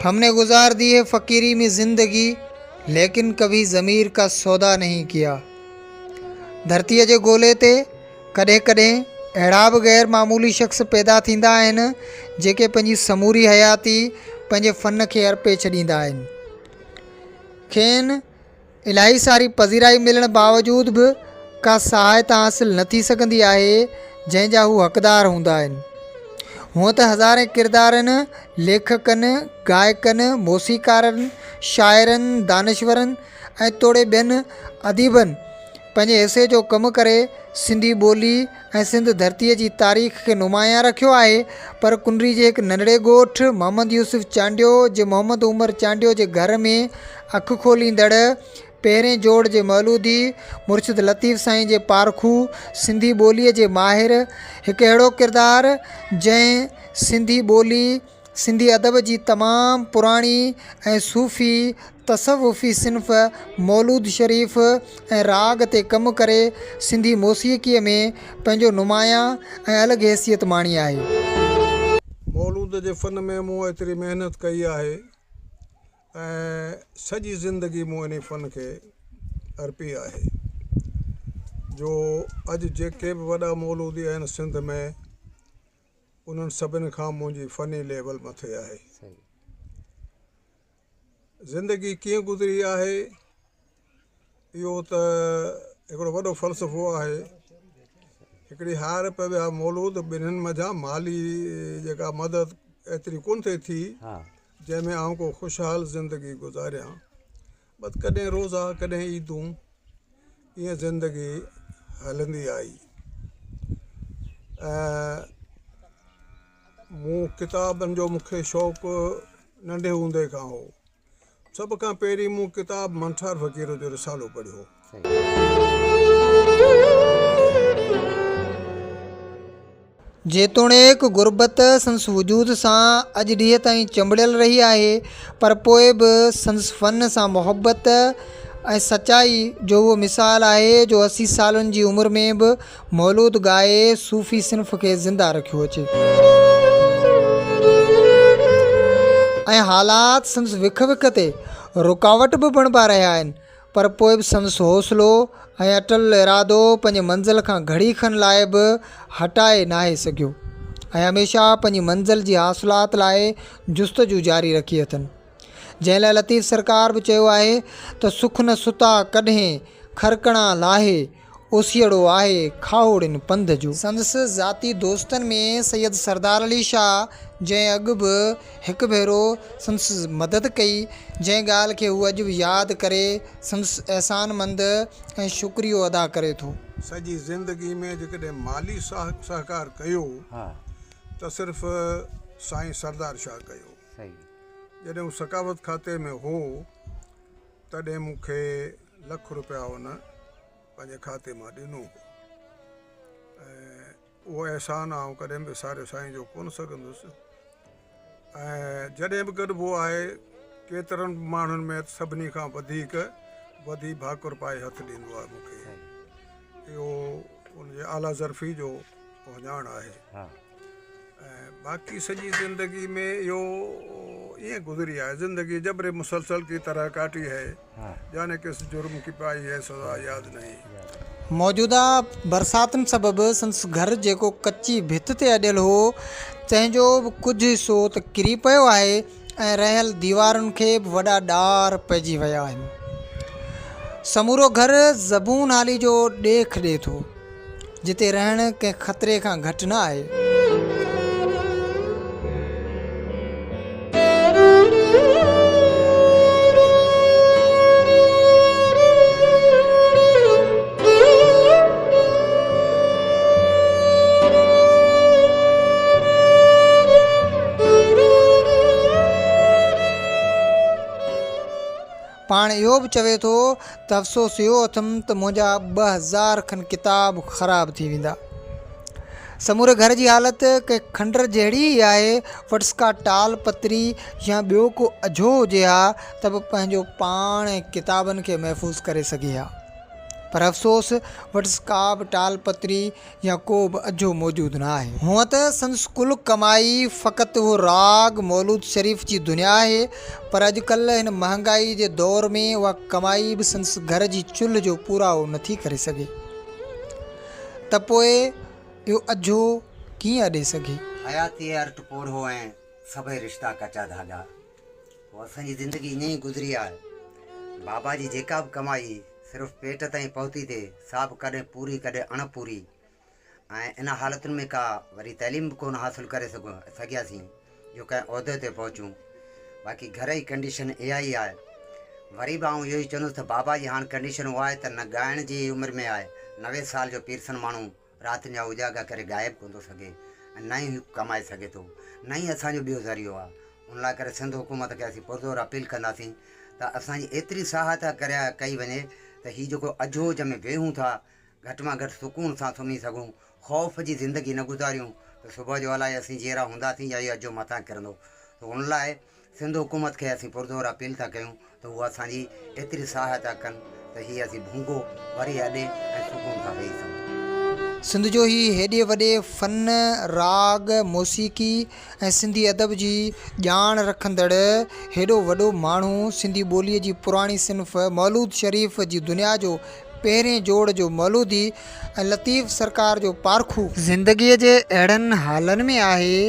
ہم نے گزار دی ہے فقيري مين زندگي ليڪن ڪڀي ضمير ڪا سودا نهين ڪيا ڌرتي جي گولي تي ڪڏهن ڪڏهن اهڙا به غير معمولي شخص پيدا ٿيندا آهن جيڪي پنهنجي سموري حياتي پنهنجي فن کي ارپي ڇڏيندا آهن کين الاهي ساري پذيرائي ملڻ باوجود به ڪا سهائتا حاصل نه ٿي سگهندي آهي جنهن جا هو حقدار هوندا آهن هونء ته هزارين ڪردارن ليکڪن گائڪن موسيقارن شاعرن دانشورن ۽ توڙي ٻين اديبن پنهنجي حصي جو ڪم ڪري سنڌي ٻولي ۽ سنڌ ڌرتيء جي تاريخ کي نمايان رکيو آهي پر ڪنري جي هڪ ننڍڙي ڳوٺ محمد يوسف چانڊيو جي محمد عمر چانڊيو جي گهر ۾ اک کوليندڙ پهرين جوڙ جي مولودي مرشد لطيف سائين جي پارکو سنڌي ٻوليء جي ماهر هڪ اهڙو ڪردار جنهن سنڌي ٻولي سنڌي ادب جي تمام پراڻي ۽ صوفي تصوفي صنف مولود شريف ۽ راڳ تي ڪم ڪري سنڌي موسيقيء ۾ پنهنجو نمايان ۽ الڳ حيثيت ماڻي آهي. مولود جي فن ۾ مون ايتري محنت ڪئي آهي ۽ سڄي زندگي مون انهي فن کي ارپي آهي جو اڄ جيڪي به وڏا مولودي آهن سنڌ ۾ انهن سڀني کان منهنجي فني ليول مٿي آهي. زندگي ڪيئن گذري آهي اهو ته هڪڙو وڏو فلسفو آهي. هڪڙي هار پئي ويا مولود ٻنهين منجهان مالي جيڪا مدد ايتري ڪونه ٿئي ٿي جنهن ۾ آئون ڪو خوشحال زندگي گذاريان. بس ڪڏهن روزا ڪڏهن عيدون ائين زندگي هلندي آئي ۽ مون ڪتابن جو مون کي شوق ننڍي هوندي کان هو سڀ کان پهرين مون ڪتاب منٺار فقير جو رسالو پڙهيو جيتوڻيڪ غربت سندس وجود سان اڄ ڏينهن تائين چنبڙيل رهي آهي پر پوء به سندس فن سان محبت ۽ سچائي جو اهو مثال آهي جو اسي سالن جي عمر ۾ به مولود ڳائي صوفي صنف کي زنده رکيو اچي ۽ حالات سندس وک وک تي رڪاوٽ به بڻبا رهيا آهن پر پوء به سندس حوصلو ۽ اٽل ارادو پنهنجي منزل کان گهڙي کن لاء به هٽائي ناهي سگهيو ۽ هميشه پنهنجي منزل جي حاصلات لاء جستجو جاري رکي اٿن. جنهن لاء لطيف سرڪار به چيو آهي ته سک نه ستا ڪڏهين، خرڪڻا لاهي، اوسيئڙو آهي کاهوڙين پنڌ جو. سندس ذاتي دوستن ۾ سيد سردار علي شاهه جنهن اڳ به هڪ ڀيرو سندس مدد ڪئي جنهن ڳالهه کي هو اڄ به ياد ڪري سندس احسان مند ۽ شڪريو ادا ڪري ٿو. سڄي زندگي ۾ جيڪڏهن مالي ساٿ سهڪار ڪيو ته صرف سائين سردار شاهه ڪيو جڏهن هو ثقافت کاتي ۾ هو. تڏهن مون کي لک روپيا هن پنهنجي کاتي مان ڏنو هو ۽ اهو احسان آئون ڪڏهن بي وساري سائين جو ڪونه سگهندس ۽ جڏهن به گڏبو آهي ڪيترن ماڻهن ۾ سڀني کان وڌيڪ وڌي ڀاڪر پائي هٿ ڏيندو آهي مون کي اهو ان جي اعليٰ ظرفي جو اهڃاڻ آهي ۽ باقي سڄي زندگي ۾ اهو ائين گذري آهي زندگي جبر مسلسل ڪي طرح ڪاٽي هي جاني ڪس جرم ڪي پائي هي سزا ياد نهين. موجوده برساتن سبب سندس گهر جيڪو ڪچي ڀت تي اڏيل هو تنهن جو به ڪجهه حصو ته ڪري پيو آهي، ۽ رهيل ديوارن کي به وڏا ڏار پئجي ويا آهن. سمورو گهر زبون هالي جو ڏيک ڏي ٿو، جتي رهڻ ڪنهن خطري کان گهٽ نه آهي. پاڻ اهو به چوي ٿو ته افسوس اهو اٿم ته منهنجا ٻه هزار کن ڪتاب خراب ٿي ويندا. سموري گهر جي حالت ڪنهن کنڊر جهڙي ئي آهي، وٽس ڪا ٽال پتري يا ٻيو ڪو اجهو هجي ها ته به پنهنجو پاڻ ۽ ڪتابن کي محفوظ ڪري سگهي ها. پر افسوس وٽس ڪابه ٽال پتري يا ڪوبه اجهو موجود نه آهي. هونء ته سندس ڪل ڪمائي فقط اهو راڳ مولود شريف جي دنيا آهي، پر اڄڪلهه هن مهانگائي جي دور ۾ اها ڪمائي به سندس گهر جي چلهه جو پورائو نٿي ڪري سگهي ته پوء اهو اجهو ڪيئن اڏي سگهي. حياتيء ارٽ پورهو ۽ سڀئي رشتا ڪچا ڌاڳا. پوء اسان جي زندگي ائين ئي گذري آهي. بابا جي جيڪا به ڪمائي صرف پيٽ تائين پهتي ٿي سا به ڪڏهن پوري ڪڏهن اڻ پوري ۽ ان حالتن ۾ ڪا وڏي تعليم به ڪونه حاصل ڪري سگهياسين جو ڪنهن عهدي تي پهچون باقي گهر جي ڪنڊيشن اها ئي آهي وري به آئون اهو ئي چوندس ته بابا جي هاڻ ڪنڊيشن اها آهي ته نه ڳائڻ جي عمر ۾ آهي نوي سال جو پيرسن ماڻهو رات جا اجاڳا ڪري غائب ڪونه ٿو سگهي ۽ نه ئي هي ڪمائي سگهي ٿو نه ئي اسان جو ٻيو ذريعو آهي ان لاء ڪري سنڌ حڪومت کي اسين پرزور اپيل ڪنداسين ته اسان جي ايتري سهائتا ڪري ڪئي وڃي ته هي جيڪو اجهوج ۾ ويهون ٿا گهٽ مان گهٽ سڪون سان سمهي سگهون خوف جي زندگي نه گذاريون ته صبح جو الائي اسين جيئرا هونداسين يا هي اجهو مٿان ڪرندو ته ان لاء سنڌ حڪومت کي اسين پرزور اپيل ٿا ڪيون ته هو اسان جي ايتري سهائتا ڪن ته هي اسين ڀونگو وري اڏي ۽ سڪون سان ويهي سگهون. سنڌ جو هي هيڏي وڏي فن، راڳ، موسيقي ۽ سنڌي ادب جي ڄاڻ رکندڙ هيڏو وڏو ماڻهو سنڌي ٻوليء جي پراڻي صنف مولود شريف جي دنيا جو پهرين جوڙ جو مولودي ۽ لطيف سرڪار جو پارکو. زندگيء جي اهڙن حالن ۾ آهي،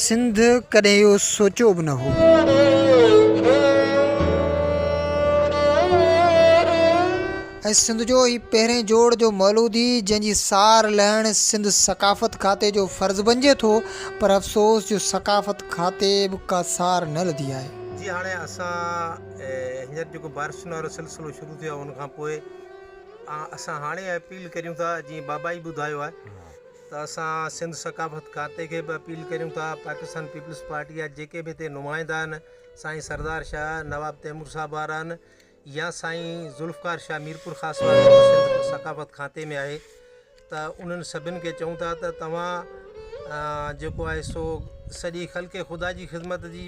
سنڌ ڪڏهن اهو سوچيو به نه هو. ۽ سنڌ جو هي پهرين جوڙ جو مولودي جنهن جي سار لهڻ سنڌ ثقافت کاتي جو فرض بنجي ٿو پر افسوس جو ثقافت کاتي به ڪا سار نه لڌي آهي. جي هاڻي اسان. هينئر جيڪو بارشن وارو سلسلو شروع ٿيو آهي ان کان پوء اسان هاڻي اپيل ڪريون ٿا جيئن بابائي ٻڌايو آهي ته اسان سنڌ ثقافت کاتي کي به اپيل ڪريون ٿا پاڪستان پيپلز پارٽي جا جيڪي به هتي نمائندا آهن سائين سردار شاهه نواب تيمور صاحب وارا آهن يا سائين ذوالفقار شاهه ميرپور خاص وارو ثقافت کاتي ۾ آهي ته انهن سڀن کي چئون ٿا ته توهان جيڪو آهي سو سڄي خلق خدا جي خدمت جي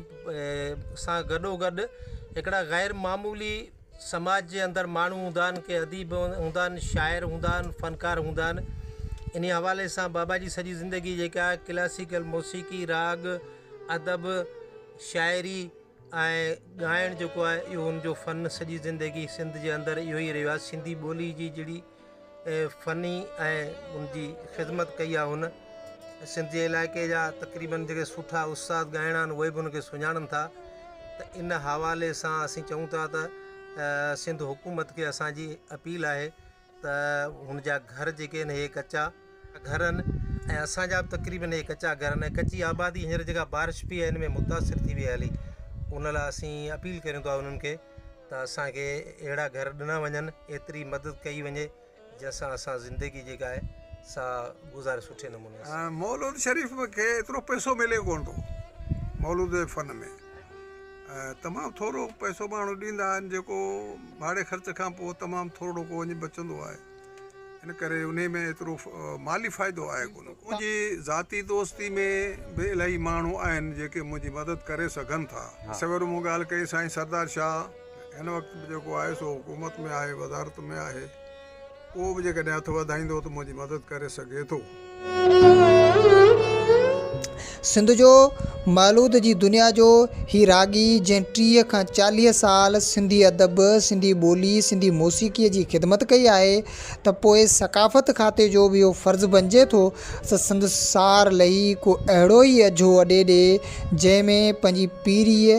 سان گڏو گڏ هڪڙا غير معمولي سماج جي اندر ماڻهو هوندا آهن ڪي اديب هوندا آهن شاعر هوندا آهن فنڪار هوندا آهن انهي حوالي سان بابا جي سڄي زندگي جيڪا آهي ڪلاسيڪل موسيقي راڳ ادب شاعري ۽ ڳائڻ جيڪو آهي اهو ان جو فن سڄي زندگي سنڌ جي اندر اهو ئي رهيو آهي سنڌي ٻولي جي جهڙي فني ۽ ان جي خدمت ڪئي آهي هن سنڌ جي علائقي جا تقريبن جيڪي سٺا استاد ڳائڻا آهن اهي به ان کي سڃاڻن ٿا ته ان حوالي سان اسين چئون ٿا ته سنڌ حڪومت کي اسانجي اپيل آهي ته هن جا گهر جيڪي آهن اهي ڪچا گهر آهن ۽ اسانجا به تقريبن اهي ڪچا گهر آهن ڪچي آبادي هينئر جيڪا بارش پئي آهي ان ۾ متاثر ٿي وئي هلي ان لاء اسين اپيل ڪريون ٿا انهن کي ته اسان کي اهڙا گهر ڏنا وڃن ايتري مدد ڪئي وڃي جنهن سان اسان زندگي جيڪا آهي سا گذاري سٺي نموني سان. مولود شريف کي ايترو پئسو ملي ڪونه ٿو مولود جي فن ۾ تمام ٿورو پئسو ماڻهو ڏيندا آهن جيڪو ڀاڙي خرچ کان پوء تمام ٿورڙو ڪو وڃي بچندو آهي ان ڪري انهي ۾ ايترو مالي فائدو آهي ڪونه منهنجي ذاتي دوستي ۾ به الائي ماڻهو آهن جيڪي منهنجي مدد ڪري سگهن ٿا سويرو مون ڳالهه ڪئي سائين سردار شاهه هن وقت به جيڪو آهي سو حڪومت ۾ آهي وزارت ۾ آهي اهو به جيڪڏهن هٿ وڌائيندو ته منهنجي مدد ڪري سگهي ٿو سنڌ جو مولود جي دنيا جو هي راڳي جنهن ٽيهه کان چاليهه سال سنڌي ادب، سنڌي ٻولي، سنڌي موسيقيء جي خدمت ڪئي آهي ته پوء ثقافت کاتي جو به اهو فرض بنجي ٿو ته سندس سار لهي ڪو اهڙو ئي اجهو اڏي ڏي جنهن ۾ پنهنجي پيريء